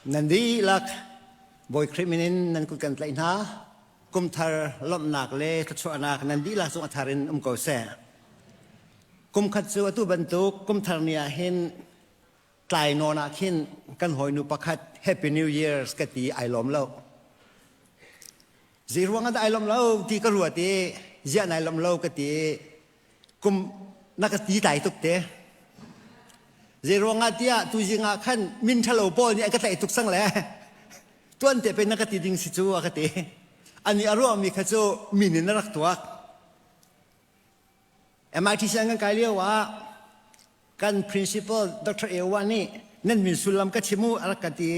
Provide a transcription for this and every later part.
Nan dihlak Bawi Khrih min in nan kut kan tlaih hna. Kumthar lawmhnak le thluachuahnak nan dihlak cung a thar in um ko seh. Kumkhat cu atu bantuk kumthar ni ah hin tlai nawn ah khin kan hawinu pakhat Happy New Year's ka ti ai lawm lo. Zei ruangah dah ai lawm lo ti ka ruat i ziah nai lawm lo ka ti i kum na ka ti dai tuk te zeiruangah tiah tuzing ah khan min ṭhalo pawl nih a ka tlaih tuk sang le tuan te pe na ka ti ding si cu a ka ti ani a ruahmi kha cu min in a rak tuak MIT sianginn kai lio ah kan principal Dr. Ewa nih nan min sullam ka chim u a rak ka ti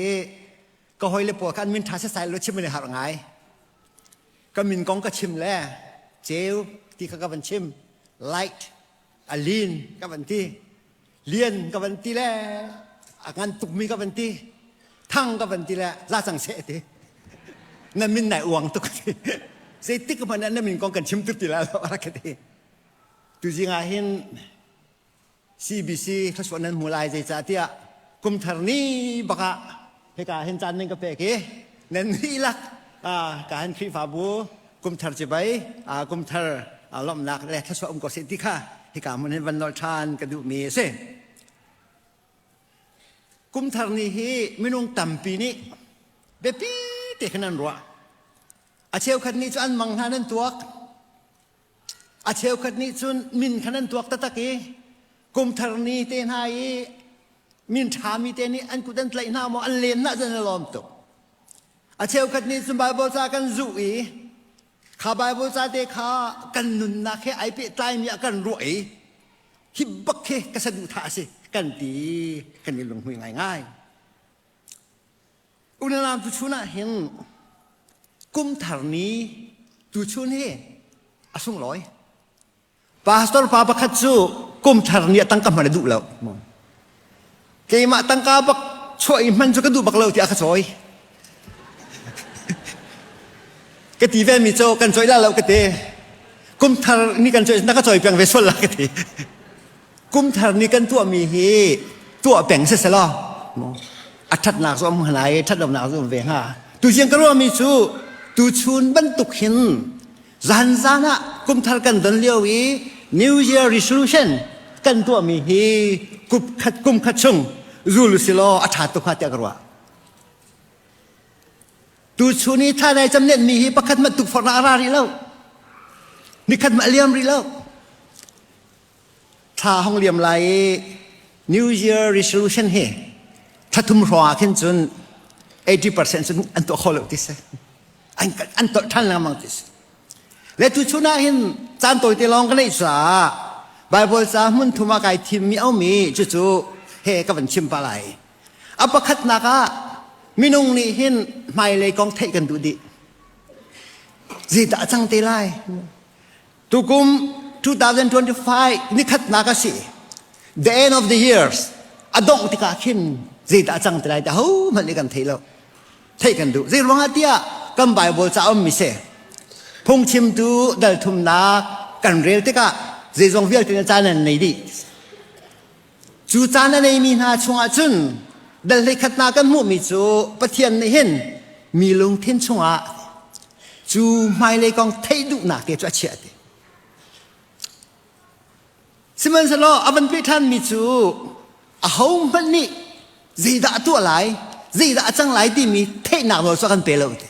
ka hoi le pawl kan min ṭha setsai lo chim an i harh ngai ka min kong ka chim le ceu ti kha ka van chim light a lin ka van ti lian ka van ti le a ngan tukmi ka van ti thang ka van ti le la cang seh ti na min nai uang tuk ti zei tik hmanh ah na min kong kan chim tuk ti la lo a rak ka ti tu zing ah hin CBC thlasuah nan hmu lai zeicahtiah kumthar ni bakah hika hin caan nan ka pek i nan nih lak ka han khrihfabu kumthar cibai kumthar lomhnak le thlasuah um ko seh ti kha hika mun hin van nol ṭhan ka duhmi a si kumthar ni hi minung tampi nih biapi te khan an ruah a cheukhat ni cu an mang hna nan tuak A cheukhat nih cun min khan an tuak taktak i kumthar ni te hna i min ṭhami te nih an kut an tlaih hna maw an len hna zan a lawm tuk a cheukhat nih cun Baibal ca kan zuh i kha Baibal ca te kha kan nunnak he ai pehtlaimi ah kan ruah i hi bak hi ka saduhthah a si kan ti kan i lunghmui ngaingai Unau tu chun ah hin kumthar ni tu chun hi a sunglawi. Pastor pa pakhat cu kumthar ni a tangka hman a duh lo. Keimah tangka bak chuah i hman cu ka duh bak lo tiah ka cawi. ka ti ve mi cu kan cawi la lo ka ti. Kumthar ni kan cawi na ka cawi piang ve sual la ka ti. kumthar nih kan tuahmi hi tuah peng selaw a ṭhatnak cu am hnga i ṭhatlonak cu um ve hnga tuziang ka ruahmi cu tuchun bantuk hin zanzan ah kumthar kan don lio i new year resolution kan tuahmi hi kup khat kum khat chung zul silaw a ṭha tuk hnga tiah ka ruah tuchun i thanai camlenmi hi pakhat mat tuk forna a ra rih lo nikhat mah liam rih lo thla hong liam lai i New Year resolution hi thatum hrawngah khin cun 80% cun an tuah kho lo ti si an an tolh than lengmang ti si le tu chun ah hin caan tawite lawng ka neih caah Bible ca hmun thum ah kai thim mi aumi cu cu he ka van chim pa lai a pakhatnak ah minung nih hin hmailei kong theih kan duh dih zi dah cang te lai Tukum 2025 nikhatnak a si. The end of the years. A dongh tikah khin zeidah a cang ti lai ti hohmanh nih kan thei lo. Theih kan duh. Zei ruangah tiah kan Bible ca um mi se. Phungchimtu dalthumnak kan rel tikah zeizong vialte na caan an nei dih. Cu caan a neimi hna chungah cun dal hleikhat hna kan hmuhmi cu Pathian nih hin mi lungthin chungah cu hmailei kong theih duhnak te cu a chiah ti. Sihmanhsehlaw a van peh ṭhanmi cu ahohmanh nih zeidah a tuah lai, zeidah a cang lai timi theihnak nawl cu a kan pe lo ti.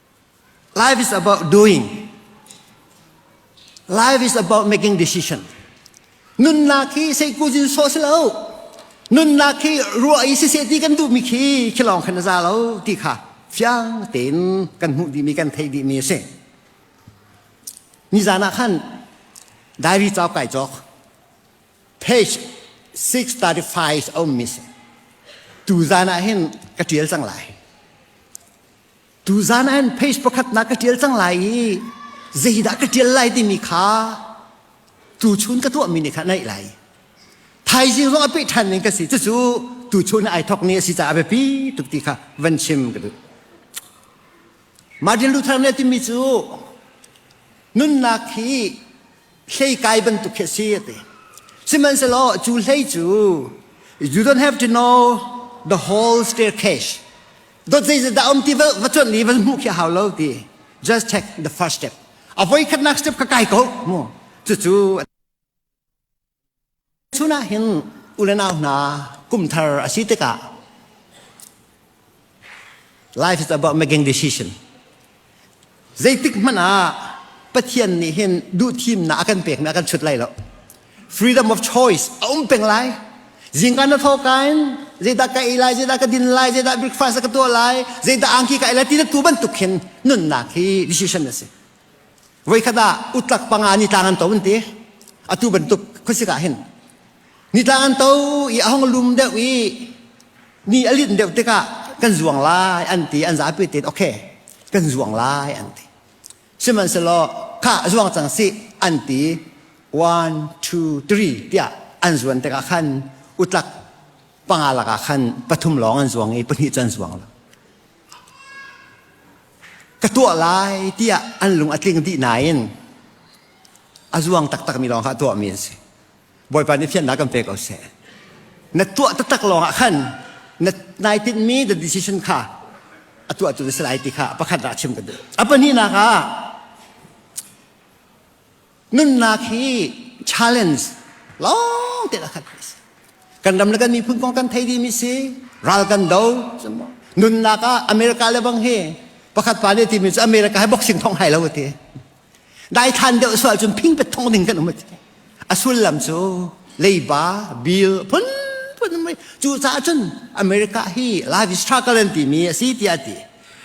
Life is about doing. Life is about making decision. Nunnak hi sei kuzin so si lo. Nunnak hi ruah i si se ti kan duh mi khi khi lawng khan a za lo ti kha fiang tein kan hmuh dih mi kan thei dih mi a si. Nizan ah khan diary cau kai cawk. Page 635 a um mi si. Tu zan ah hin ka tial cang lai. Tuzan ah page pakhat na ka ṭial cang lai i zeidah ka ṭial lai timi kha tuchun ka tuahmi nih kha naih lai. Thaizing zong a peh ṭhan ning ka si cucu tuchun ai thok ni a si caah a biapi tuk ti kha van chim ka duh. Martin Luther nih a timi cu nunnak hi hlei kai bantuk khi si ati sihmanhsehlaw cu hlei cu you don't have to know the whole staircase dot zei zat dah um ti va va chuan li va mu khi hau lo ti just take the first step avoi khatnak step ka kai ko mu chu chu Chunah hin u le nau hna kum thar a si tikah life is about making decision. Zeitik hmanh ah Pathian nih hin duhthimnak a kan pekmi a kan chut lai lo. Freedom of choice a um peng lai. Zingka na thok kain zeidah ka ei lai, zeidah ka din lai, zeidah breakfast ka tuah lai, zeidah angki ka ei lai ti na tu bantuk hin nunnak hi decision a si. Voikhat ah utlak panga nitlang an to an ti. Atu bantuk khuasik ah hin. Nitlang an to i a hong lum deuh i ni a lin deuh tikah kan zuang lai an ti an zapi te ok kan zuang lai an ti sihmanhsehlaw kha zuang cang si an ti one two three tiah an zuan tikah khan utlak panga lakah khan pathum lawng an zuang i pahnih cu an zuang lo ka tuah lai tiah an lung a tling dih nain a zuang taktak mi lawng kha tuahmi an si bawipa nih fiannak kan pek ko seh na tuah taktak lawng ah khan na nai tinhmi the decision kha a tuahtu na si lai ti kha pakhat ah chim ka duh a pahnihnak ah nunnak hi challenge long te la khat kan ram le kan miphun kong kan thei di mi si ral kan do nunnak ah america le bang hi pakhat pa ne ti mi america hai boxing thong hai lo ti dai than deuh sual cun phing pet thong ding kan um a sullam cu leiba bill phun phun mai cu ca cun america hi life struggle an ti mi a si tiah ti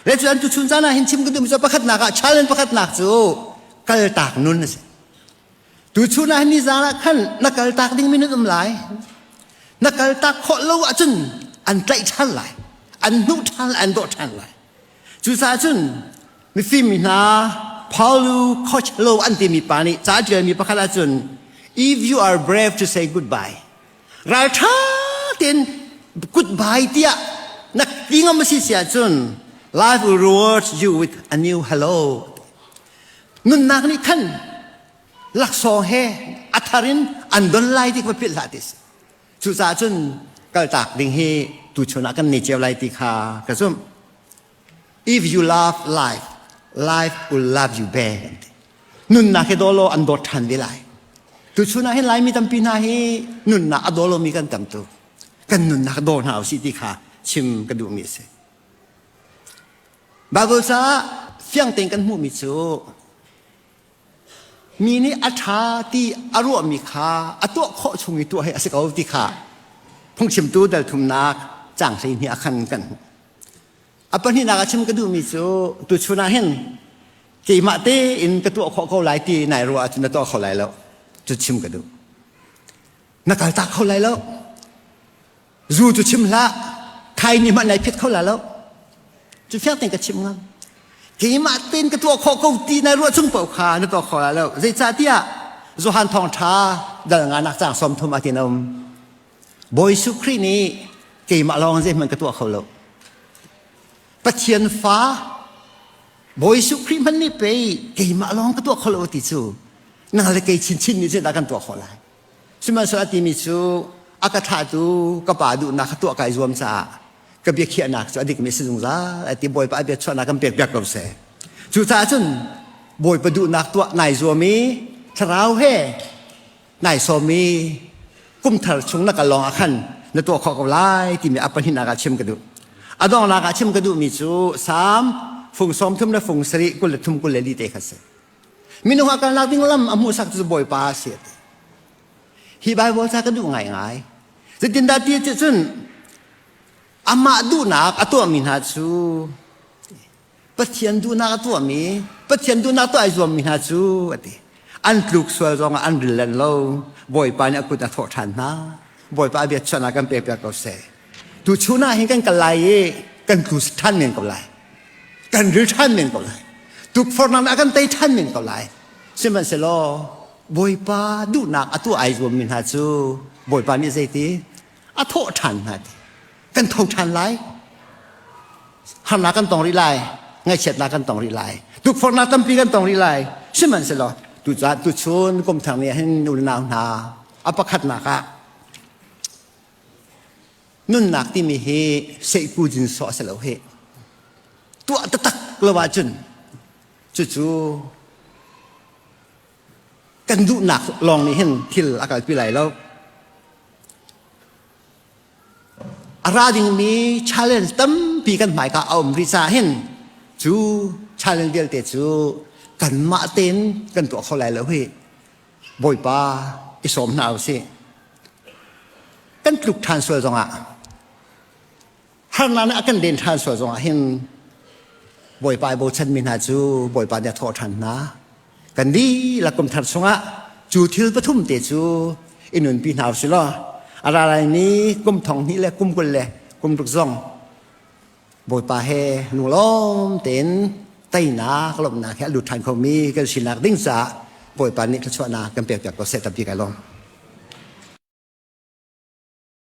le cu an tu chun zana hin chim kan tu mi pakhat nak ah challenge pakhat nak cu kaltak nun a si tu chunah nizan ah khan na kaltak ding mi nan um lai na kaltak khawh lo ahcun an tlaih ṭhan lai an hnuh ṭhan an dawh ṭhan lai cucaah cun mifim hna Paulo Costello an timi pa nih ca ṭialmi pakhat ahcun if you are brave to say goodbye ralṭha tein goodbye tiah na ti ngam a si si ahcun life will reward you with a new hello nunnak nih khan laksawng he a thar in an don lai ti va philh hlah ti cucaah cun kaltak ding hi tuchun ah kan ni ceu lai ti kha ka zumh If you love life, life will love you back. Nunnak hi dawlaw an dawt ṭhan ve lai. Tu chunah hin Laimi tampi hna hi nunnak a dawlomi kan tam tuk. Kan nunnak daw hna u si ti kha chim ka duhmi a si. Bible ca fiang tein kan hmuhmi cu mi nih a ṭha ti a ruahmi kha a tuah khawh chung i tuah hi a si ko ti kha phungchimtu dalthumnak cang hlei nih a khan kan hmuh. A pahnihnak a chim ka duhmi cu tuchun ah hin keimah tein ka tuah khawh ko lai ti nai ruah ahcun na tuah kho lai lo cu chim ka duh na kaltak kho lai lo zu cu chim hlah thai nih mah nai phit kho la lo cu fiang tein ka chim ngam keimah tein ka tuah khawh ko ti nai ruah chung paoh kha na tuah kho la lo zeicahtiah Johan thawng ṭha dal nga nak cang som thum a tin um Bawi Suh Khrih nih keimah lawng zeihmanh ka tuah kho lo. Pathian fa Bawi Suh Khrih hmanh nih pei keimah lawng ka tuah kho lo ti cu nang le kei chinchin nih zeidah kan tuah khawh lai? Sihmanhsehlaw a timi cu a ka thlahtu ka Pa duhnak kha tuah kai zuam caah ka biakhiahnak cu a dikmi a si zungzal a ti Bawipa a biachuahnak kan pek piak ko seh. Cucaah cun Bawipa duhnak tuah nai zuam i thlarau he nai sawmi kumthar chung na kal lawng ah khan na tuah khawh ko lai timi a pahnih nak ah chim ka duh a dongnak ah chim ka duhmi cu sam fung som thum le fung sari kul le thum kul le li te kha si minung ah kalnak ding lam a hmuhsak cu bawipa a si ati hi bible ca ka duh ngai ngai zetindah ti cun amah duhnak a tuahmi hna cu Pathian duhnak a tuahmi, Pathian duhnak tuah ai zuammi hna cu, a ti. An tluk sual zongah an rillen lo. Bawipa nih a kut a thawh ṭhan hna. Bawipa a biachuahnak kan pekpiak ko seh. Tuchun ah hin kan kal lai i kan tlu ṭhan men ko lai. Kan ril ṭhan men ko lai. Tukforhnak ah kan tei ṭhan men ko lai. Sihmanhsehlaw Bawipa duhnak a tuah ai zuammi hna cu Bawipa nih zeiti? A thawh ṭhan hna ti. kan tho ṭhan lai harnak kan tong rih lai ngaihchiatnak kan tong rih lai tukforhnak tampi kan tong rih lai sihmanhsehlaw tucah tuchun kumthar nih hin unau hna a pakhatnak ah nunnak timi hi seihku jin so a si lo hi tuah taktak lo ahcun cucu kan duhnak lawng nih hin thil a kalpi lai lo a ra dingmi challenge tampi kan hmaika a um rih ca hin cu challenge vialte cu kanmah tein kan tuah kho lai lo hi bawipa i sawm hna u sih kan tluk ṭhan sual zongah harnak nih a kan den ṭhan sual zongah hin bawipa i bochanmi hna cu bawipa nih a thawh ṭhan hna kan dihlak kum thar chungah cu thil pathum te cu i nunpi hna si law a ra lai mi kum thong hnih le kum kul le kum ruk zong Bawipa he lunglawm tein teinak lawmhnak he lut ṭhan kho mi kan sinak ding caah Bawipa nih thluachuahnak kan pek piak ko seh tabbi kai lawm.